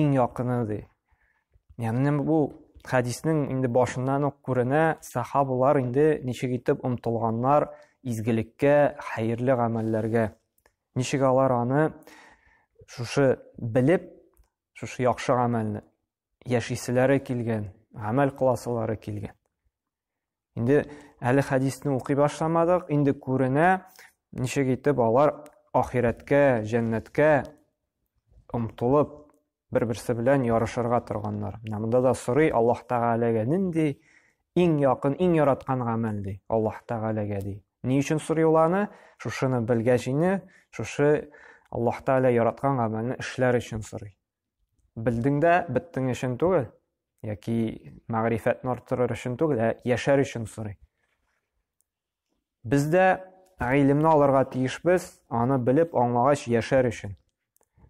иң якыны ди яғни бу хәдиснең инде башыннан ук күренә сахабалар инде ничек итеп омтылганнар изгелеккә хәерле гамәлләргә ничек алар аны шушы белеп шушы яхшы гамәлне яшиселәре килгән гамәл кыласылары килгән Инде әле хәдисне укый башламадык, инде күренә, ничек итеп алар ахирәткә, җәннәткә омтылып, бер-берсе белән ярышырга торганнар. Менә монда да сорый Аллаһ Тәгаләгә нинди иң якын, иң яраткан гамәл ди, Аллаһ Тәгаләгә ди. Ни өчен сорый ул аны? Шушыны белгәч инде, шушы Аллаһ Тәгалә яраткан гамәлне эшләр өчен сорый. Белдең дә беттең өчен түгел, яки мәгърифәтне арттырыр өчен түгел, ә яшәр өчен сорый. Без дә гыйлемне алырга тиешбез, аны белеп аңлагач яшәр өчен.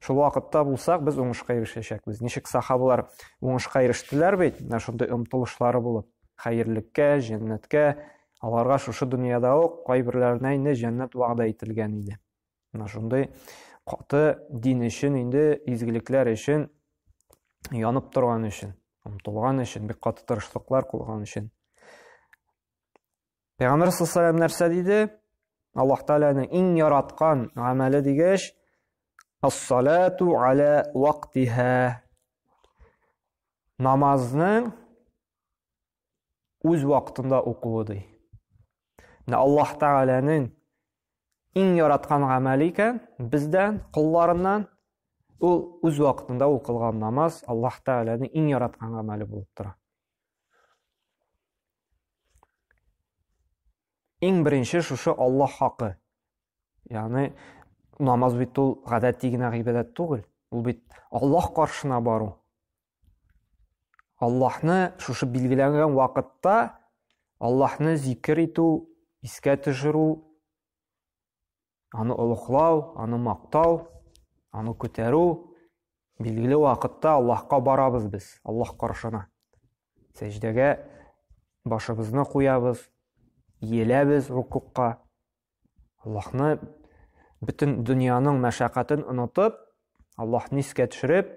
Шул вакытта булсак, без уңышка ирешәчәкбез. Ничек сахабалар уңышка ирештеләр бит, менә шундый омтылышлары булып, хәерлеккә, җәннәткә, аларга шушы дөньяда ук кайберләренә инде җәннәт вәгъдә ителгән иде. Менә шундый каты дин өчен инде изгелекләр өчен янып торган өчен, омтылган өчен, бик каты тырышлыклар кылган өчен. Пәйгамбер саллаллаху нәрсә диде? Аллаһ Тәгаләнең иң яраткан гамәле дигәч, ас-салату аля вактиһа. Намазның үз вакытында укуы ди. Менә Аллаһ Тәгаләнең иң яраткан гамәле икән бездән, кулларыннан ул үз вакытында укылган намаз Аллаһ Тәгаләнең иң яраткан гамәле булып тора. Иң беренче шушы Аллаһ хакы. Ягъни намаз бит ул гадәти генә гыйбадәт түгел. Ул бит Аллаһ каршына бару. Аллаһны шушы билгеләнгән вакытта Аллаһны зикер итү, искә төшерү, аны олуглау, аны мактау, аны күтәрү билгеле вакытта Аллаһка барабыз без, Аллаһ каршына. Сәҗдәгә башыбызны куябыз, иеләбез рукукка. Аллаһны бөтен дөньяның мәшәкатен онытып, Аллаһны искә төшереп,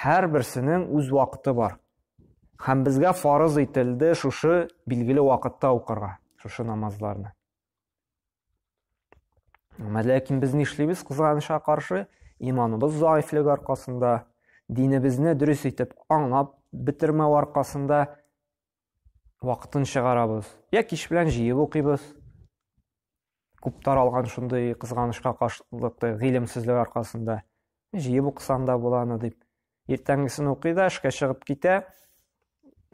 Һәрберсенең үз вакыты бар. Һәм безгә фарыз ителде шушы билгеле вакытта укырга, шушы намазларны. Әмма ләкин без нишлибез кызганычка каршы? Иманыбыз заифлек аркасында, динебезне дөрес итеп аңлап бетермәү аркасында вакытын чыгарабыз. Я кич белән җыеп укыйбыз. Күп таралган шундый кызганычка каршылыкты гыйлемсезлек аркасында. Җыеп укысаң да була аны дип. Иртәнгесен укый да эшкә чыгып китә.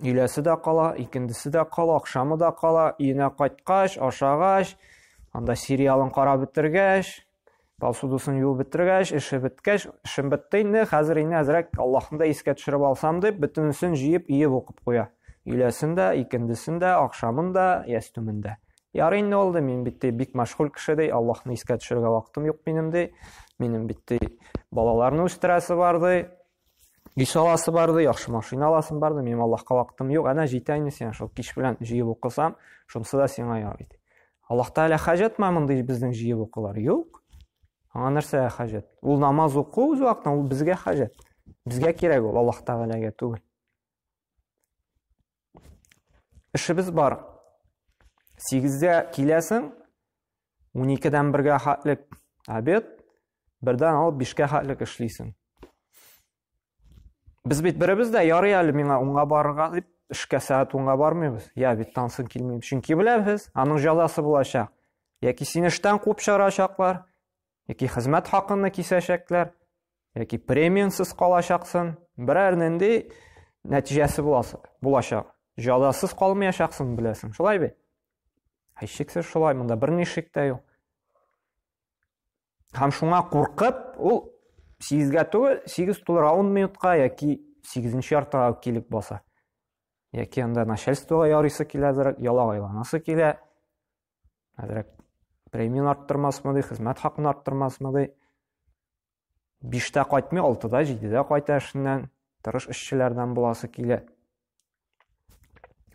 Өйләсе дә кала, икендесе дә кала, акшамы да кала. Өенә кайткач, ашагач, анда сериалын карап бетергәч, Посудысын юып бетергәч, эше беткәч, эшем бетте инде, хәзер инде әзрәк Аллаһны да искә төшереп алсам дип, бөтенесен җыеп, иеп укып куя. Өйләсен дә, икендесен дә, ахшамын да, ястүмен дә. Ярый инде ул мин бит бик мәшгуль кеше ди, Аллаһны искә төшерергә вакытым юк минем ди. Минем бит балаларны үстерәсе бар ди. Еш аласы барды, яхшы машина аласым барды, минем Аллаһка вакытым юк. Әнә җитә инде сиңа шул кич белән җыеп укысам, шунысы да сиңа ярый ди. Аллаһ Тәгалә хаҗәтме мондый безнең җыеп укулар? Юк. Аңа нәрсә хаҗәт? Ул намаз уку үз вакытында ул безгә хаҗәт. Безгә кирәк ул Аллаһ Тәгаләгә түгел. Эшебез бар. Сигездә киләсең, уникедән бергә хатлек обед, бердән алып бишкә хатлек эшлисең. Без бит беребез дә ярый әле миңа унга барырга дип, эшкә сәгать унга бармыйбыз. Я бит тансын килмим. Чөнки беләбез, аның җәзасы булачак. Яки сине эштән куып чыгарачаклар, яки хезмәт хакыны кисәчәкләр, яки премиансыз калачаксын, берәр нинди нәтиҗәсе буласы, булачак. Җадасыз калмаячаксын, беләсең, шулай бит? Һичшиксез шулай, монда бер нишек тә юк. Һәм шуңа куркып, ул 8-гә түгел, 8 тулыр 10 минутка яки 8-нче яртыга килеп баса. Яки анда начальствога ярыйсы киләдер, ялагайланасы килә. Хәзрәк премияны арттырмасмы ди, хезмәт хакын арттырмасмы ди. Биштә кайтмый, алтыда, җидедә кайта эшеннән, тырыш эшчеләрдән буласы килә.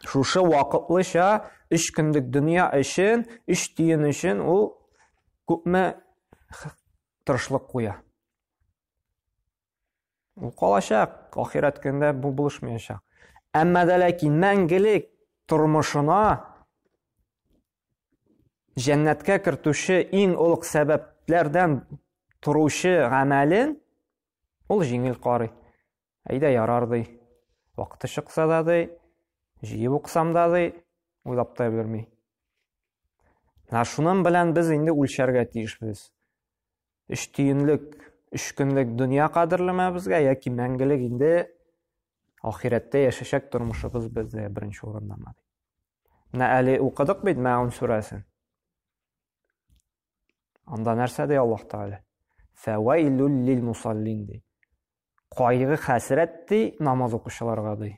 Шушы вакытлыча өч көндек дөнья өчен, өч тиен өчен ул күпме тырышлык куя. Ул калачак, ахирәт көндә бу булышмаячак. Әмма дә ләкин мәңгелек тормышына җәннәткә кертүче иң олуг сәбәпләрдән торучы гамәлен ул җиңел карый. Әйдә ярар ди. Вакыты чыкса да ди, җыеп уксам да ди, уйлап та белми. Менә шуның белән без инде үлчәргә тиешбез. өч тиенлек өч көнлек дөнья кадерлеме безгә яки мәңгелек инде ахирәттә яшәшәк тормышыбыз бездә беренче урындамы менә әле укыдык бит мәун сүрәсен анда нәрсә ди аллаһ тәгалә фәвәйлүл лил мусаллин ди кайгы хәсрәт ди намаз укучыларга ди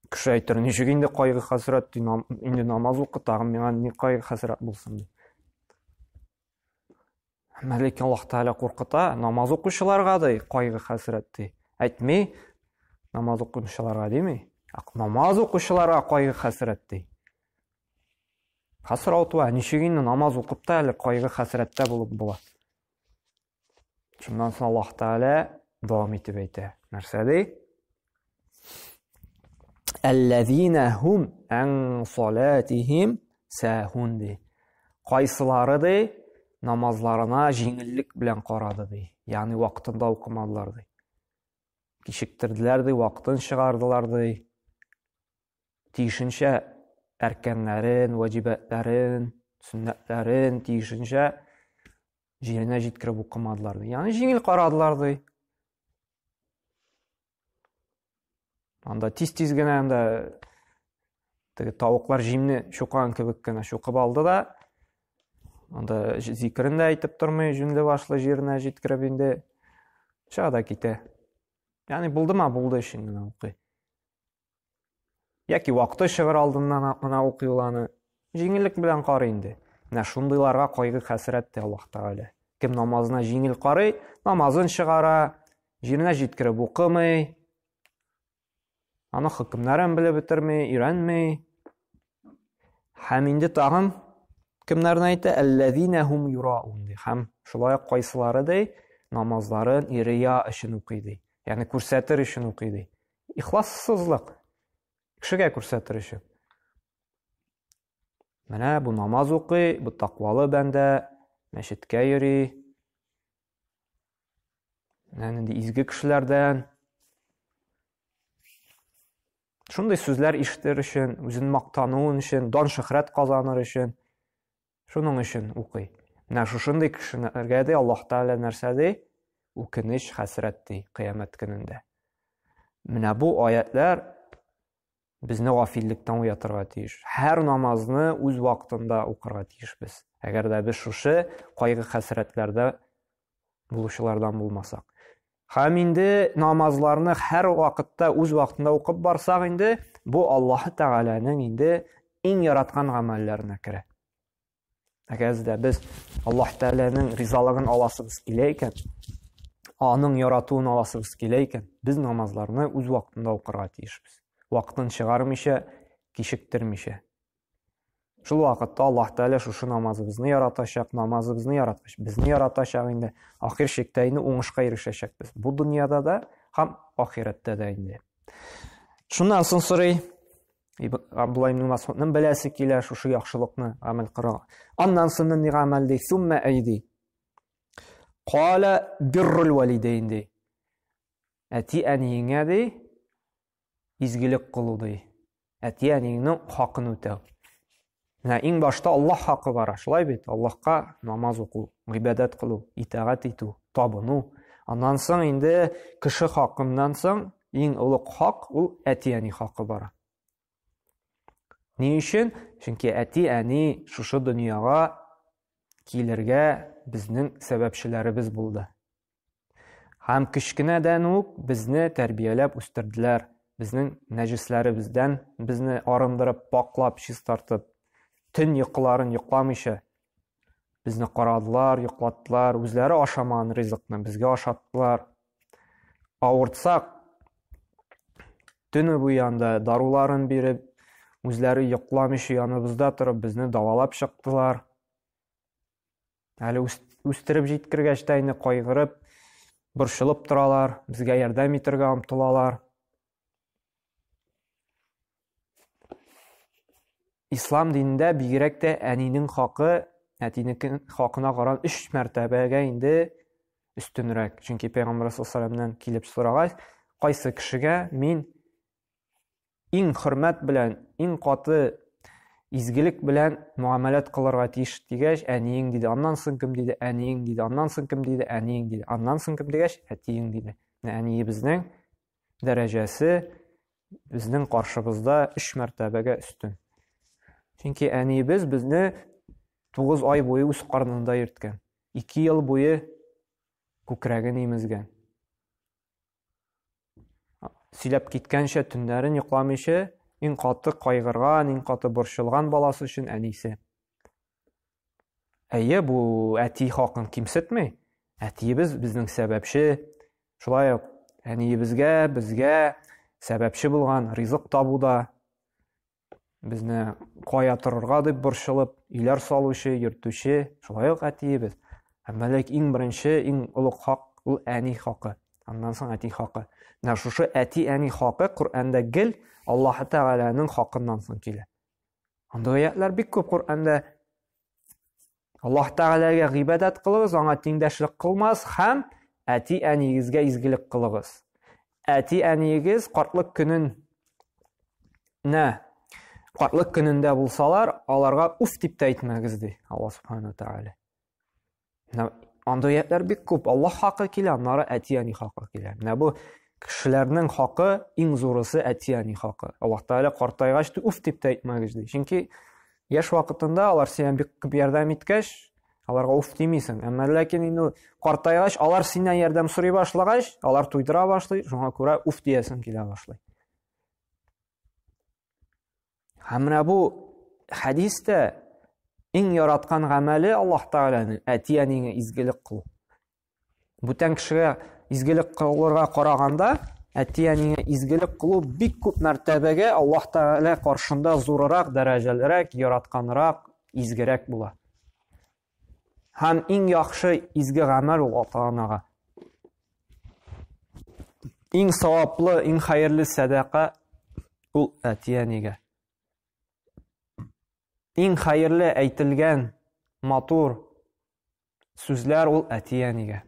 Кеше әйтер, ничек инде кайгы хәсрәт, инде намаз укы, тагын миңа ни кайгы хәсрәт булсын ди. Әмма ләкин Аллаһ Тәгалә куркыта, намаз укучыларга да кайгы хәсрәт ди. Әйтми, намаз укучыларга дими. Намаз укучыларга кайгы хәсрәт ди. Хәсрәт ва ничек инде намаз укып та әле кайгы хәсрәттә булып була. Шуннан соң Аллаһ Тәгалә дәвам итеп әйтә. Нәрсә ди? Әлләзина хум ан салатихим сәһун ди. Кайсылары ди намазларына җиңеллек белән карады ди. Ягъни вакытында укымадылар ди. Кичектерделәр ди, вакытын чыгардылар ди. тиешенчә әркәннәрен, ваҗибәтләрен, сөннәтләрен тиешенчә җиренә җиткереп укымадылар ди. Ягъни җиңел карадылар ди. Анда тиз-тиз генә анда теге тавыклар җимне чукан кебек кенә чукып алды да анда зикерен дә әйтеп тормый җүнле башлы җиренә җиткереп инде чыга да китә яғни булдыма булды өчен генә укый Яки вакыты чыгыр алдыннан гына укый ул аны. Җиңеллек белән карый инде. Менә шундыйларга кайгы хәсрәт тә Аллаһ Тәгалә. Кем намазына җиңел карый, намазын чыгара, җиренә җиткереп укымый, аны хөкемнәрен белеп бетерми, өйрәнми. Һәм инде тагын кемнәрне әйтә? Әлләзинәһум юраун ди. Һәм шулай ук кайсылары ди, намазларын ирия өчен укый ди. Ягъни күрсәтер өчен укый ди. Ихлассызлык. Кешегә күрсәтер өчен. Менә бу намаз укый, бу таквалы бәндә, мәчеткә йөри. Менә нинди изге кешеләрдән. Шундый сүзләр ишетер өчен, үзен мактануын өчен, дан шөһрәт казаныр өчен. Шуның өчен укый. Менә шушындый кешеләргә ди Аллаһ Тәгалә нәрсә ди? Үкенеч, хәсрәт ди кыямәт көнендә. Менә бу аятлар безне гафиллектән уятырга тиеш. Һәр намазны үз вакытында укырга тиешбез. Әгәр дә без шушы кайгы-хәсрәтләрдә булучылардан булмасак. Һәм инде намазларны һәр вакытта үз вакытында укып барсак инде, бу Аллаһ Тәгаләнең инде иң яраткан гамәлләренә керә. Әгәр дә без Аллаһ Тәгаләнең ризалыгын аласыбыз килә икән, аның яратуын аласыбыз килә икән, без намазларны үз вакытында укырга тиешбез. Вакытын чыгармыйча, кичектермичә. Шул вакытта Аллаһ Тәгалә шушы намазыбызны яратачак, намазыбызны яраткач, безне яратачак инде. Ахир шиктә инде уңышка ирешәчәкбез. Бу дөньяда да һәм ахирәттә дә инде. Шуннан соң сорый, Абдулла ибн Масудның беләсе килә шушы яхшылыкны гамәл кыла. Аннан соң ни гамәл ди? Сумма айди. Кала биррул валидейн ди. Әти әниеңә ди, изгелек кылу ди. Әти-әниеңнең хакын үтәү. Менә иң башта Аллаһ хакы бара, шулай бит? Аллаһка намаз уку, гыйбадәт кылу, итагать итү, табыну. Аннан соң инде кеше хакыннан соң иң олуг хак ул әти-әни хакы бара. Ни өчен? Чөнки әти-әни шушы дөньяга килергә безнең сәбәпчеләребез булды. Һәм кечкенәдән үк безне тәрбияләп үстерделәр, безнең нәҗесләребездән безне арындырып, паклап, чистартып, төн йокыларын йокламыйча безне карадылар, йоклаттылар, үзләре ашамаган ризыкны безгә ашаттылар. Авыртсак, төне буе анда даруларын биреп, үзләре йокламыйча яныбызда торып, безне давалап чыктылар. Әле үстереп җиткергәч тә инде кайгырып, борчылып торалар, безгә ярдәм итәргә омтылалар. Ислам динендә бигрәк тә әнинең хакы әтинеке хакына каран 3 мәртәбәгә инде өстенрәк. Чөнки Пәйгамбәр саллаллаху алейһи килеп сорагач, кайсы кешегә мин иң хөрмәт белән, иң каты изгелек белән муамәләт кылырга тиеш дигәч, әниең диде. Аннан соң кем диде? Әниең диде. Аннан соң кем диде? Әниең диде. Аннан соң кем дигәч, әтиең диде. Менә әниебезнең дәрәҗәсе безнең каршыбызда 3 мәртәбәгә өстен. Чөнки әниебез безне 9 ай буе үз карнында йөрткән. 2 ел буе күкрәген имезгән. Сөйләп киткәнчә төннәрен йокламыйча, иң каты кайгырган, иң каты борчылган баласы өчен әнисе. Әйе, бу әти хакын кимсетми. Әтиебез безнең сәбәпче. Шулай ук әниебезгә, безгә сәбәпче булган ризык табуда, Безне кая торырга дип борчылып, өйләр салучы, йөртүче, шулай ук әтиебез. Әмма ләк иң беренче, иң олуг хак ул әни хакы. Аннан соң әти хакы. Менә шушы әти-әни хакы Коръәндә гел Аллаһ Тәгаләнең хакыннан соң килә. Андый аятьләр бик күп Коръәндә Аллаһ Тәгаләгә гыйбадәт кылыгыз, аңа тиңдәшлек кылмас һәм әти-әниегезгә изгелек кылыгыз. Әти-әниегез картлык көнен нә картлык көнендә булсалар, аларга уф дип тә әйтмәгез ди Алла субхана тәгалә. Менә анда аятлар бик күп. Алла хакы килә, аннары әти-әни хакы килә. Менә бу кешеләрнең хакы иң зурысы әти-әни хакы. Алла тәгалә картайгач уф дип тә әйтмәгез ди. Чөнки Яшь вакытында алар сиңа бик күп ярдәм иткәч, аларга уф димисең. Әмма ләкин инде картайгач, алар синнән ярдәм сорый башлагач, алар туйдыра башлый, шуңа күрә уф диясең килә башлый. Һәм менә бу хәдистә иң яраткан гамәле Аллаһ Тәгаләнең әти-әниеңә изгелек кылу. Бүтән кешегә изгелек кылырга караганда, әти-әнигә изгелек кылу бик күп мәртәбәгә Аллаһ Тәгалә каршында зурырак, дәрәҗәлерәк, яратканрак, изгерәк була. Һәм иң яхшы изге гамәл ул ата-анага. Иң саваплы, иң хәерле сәдака ул әти-әнигә. Иң хәерле әйтелгән матур Сүзләр ул әти-әнигә.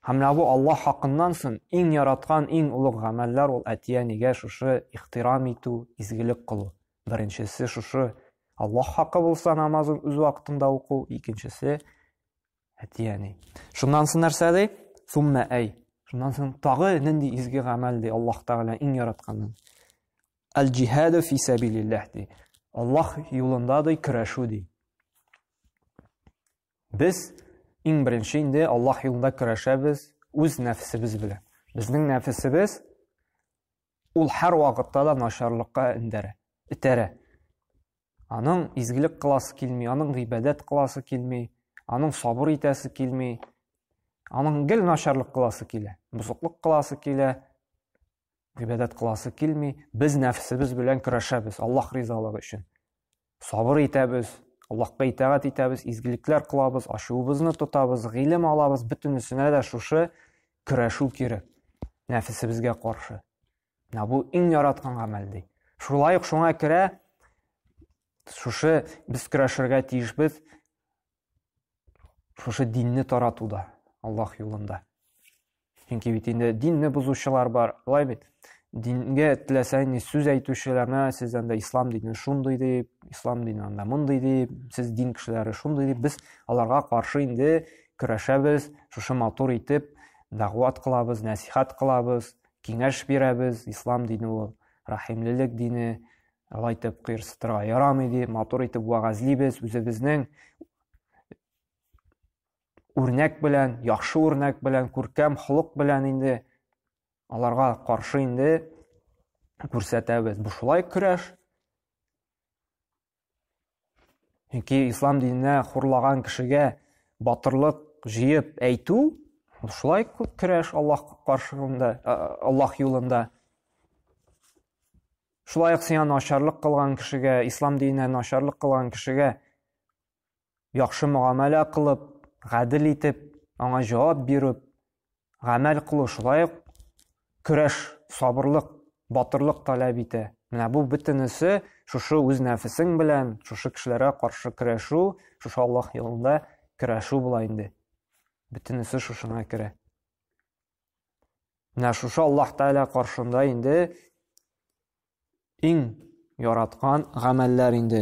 Һәм менә бу Аллаһ хакыннан соң иң яраткан, иң олуг гамәлләр ул әти-әнигә шушы ихтирам итү, изгелек кылу. Беренчесе шушы Аллаһ хакы булса намазын үз вакытында уку, икенчесе әти-әни. Шуннан соң нәрсә ди? Сумма әй. Шуннан соң тагы нинди изге гамәл ди Аллаһ Тәгалә иң яратканын. Аль-джихаду фи сабилиллах ди. Аллаһ юлында ди көрәшү ди. Без иң беренче инде Аллаһ юлында көрәшәбез үз нәфсебез белән. Безнең нәфсебез ул һәр вакытта да начарлыкка индерә, итерә. Аның изгелек кыласы килми, аның гыйбадәт кыласы килми, аның сабыр итәсе килми. Аның гел начарлык кыласы килә, бузыклык кыласы килә, гыйбадәт кыласы килми, без нәфсебез белән көрәшәбез Аллаһ ризалыгы өчен. Сабыр итәбез, Аллаһка итагать итәбез, изгелекләр кылабыз, ачуыбызны тотабыз, гыйлем алабыз, бөтенесенә дә шушы көрәшү кирәк. Нәфсебезгә каршы. Менә бу иң яраткан гамәл ди. Шулай ук шуңа керә шушы без көрәшергә тиешбез шушы динне таратуда аллаһ юлында чөнки бит инде динне бозучылар бар былай бит дингә теләсә ни сүз әйтүчеләр мә сез анда ислам дине шундый дип ислам дине анда мондый дип сез дин кешеләре шундый дип без аларга каршы инде көрәшәбез шушы матур итеп дәгъват кылабыз нәсихәт кылабыз киңәш бирәбез ислам дине ул рәхимлелек дине Алай итеп кыерсытырга ярамый ди, матур итеп вәгазьлибез, үзебезнең үрнәк белән, яхшы үрнәк белән, күркәм холык белән инде аларга каршы инде күрсәтәбез. Бу шулай көрәш. Чөнки ислам диненә хурлаган кешегә батырлык җыеп әйтү, шулай күп көрәш Аллаһ каршында, Аллаһ юлында. Шулай ук сиңа начарлык кылган кешегә, ислам диненә начарлык кылган кешегә яхшы мөгамәлә кылып, гадел итеп, аңа җавап биреп, гамәл кылу шулай ук көрәш, сабырлык, батырлык таләп итә. Менә бу бөтенесе шушы үз нәфесең белән, шушы кешеләргә каршы көрәшү, шушы Аллаһ юлында көрәшү була инде. Бөтенесе шушына керә. Менә шушы Аллаһ Тәгалә каршында инде иң яраткан гамәлләр инде.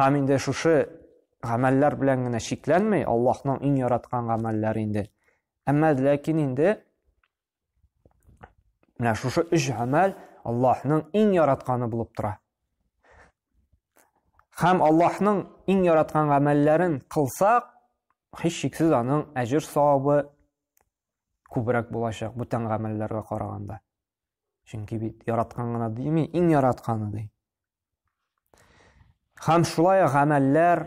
Һәм инде шушы гамәлләр белән генә чикләнми, Аллаһның иң яраткан гамәлләре инде. Әмма ләкин инде менә шушы өч гамәл Аллаһның иң яратканы булып тора. Һәм Аллаһның иң яраткан гамәлләрен кылсак, һич шиксез аның әҗер савабы күбрәк булачак бүтән гамәлләргә караганда. Чөнки бит яраткан гына дими, иң яратканы ди. Хәм шулай гамәлләр,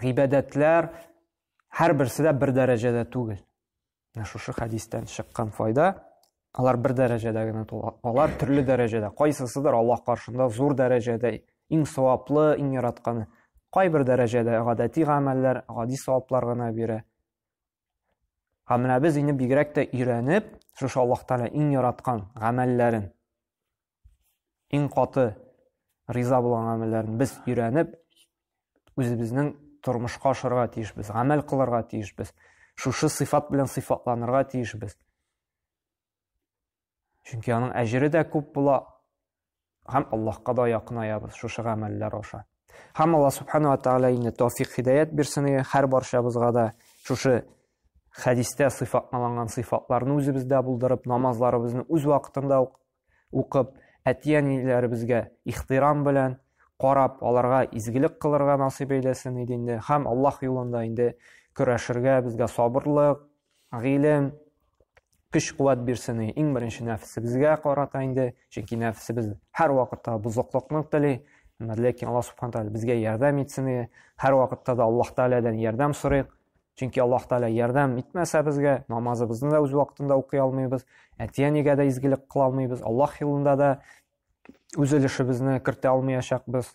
гыйбадәтләр һәр берсе дә бер дәрәҗәдә түгел. Менә шушы хәдистән чыккан файда, алар бер дәрәҗәдә генә тула. Алар төрле дәрәҗәдә, кайсысыдыр Аллаһ каршында зур дәрәҗәдә, иң саваплы, иң яратканы. Кайбер дәрәҗәдә гадәти гамәлләр, гади саваплар гына бирә. Һәм менә без инде бигрәк тә өйрәнеп, шушы Аллаһ Тәгалә иң яраткан гамәлләрен, иң каты риза булган гамәлләрен без өйрәнеп, үзебезнең тормышка ашырга тиешбез, гамәл кылырга тиешбез. Шушы сыйфат белән сыйфатланырга тиешбез. Чөнки аның әҗере дә күп була, һәм Аллаһка да якынаябыз шушы гамәлләр аша. Һәм Аллаһ субхана ва тааля инде тауфик хидаят бирсен иде, һәр барчабызга да шушы хәдистә сыйфатланган сыйфатларны үзебездә булдырып, намазларыбызны үз вакытында укып, әти-әниләребезгә ихтирам белән карап, аларга изгелек кылырга насыйп әйләсен иде инде. Һәм Аллаһ юлында инде көрәшергә, безгә сабырлык, Гыйлем көч-куәт бирсен и иң беренче нәфесебезгә карата инде, чөнки нәфесебез һәр вакытта бозыклыкны тели. Әмма ләкин Аллаһ субхана тәгалә безгә ярдәм итсен и һәр вакытта да Аллаһ тәгаләдән ярдәм сорыйк. Чөнки Аллаһ тәгалә ярдәм итмәсә безгә, намазыбызны да үз вакытында укый алмыйбыз, әти-әнигә дә изгелек кыла алмыйбыз, Аллаһ юлында да үз өлешебезне кертә алмаячакбыз.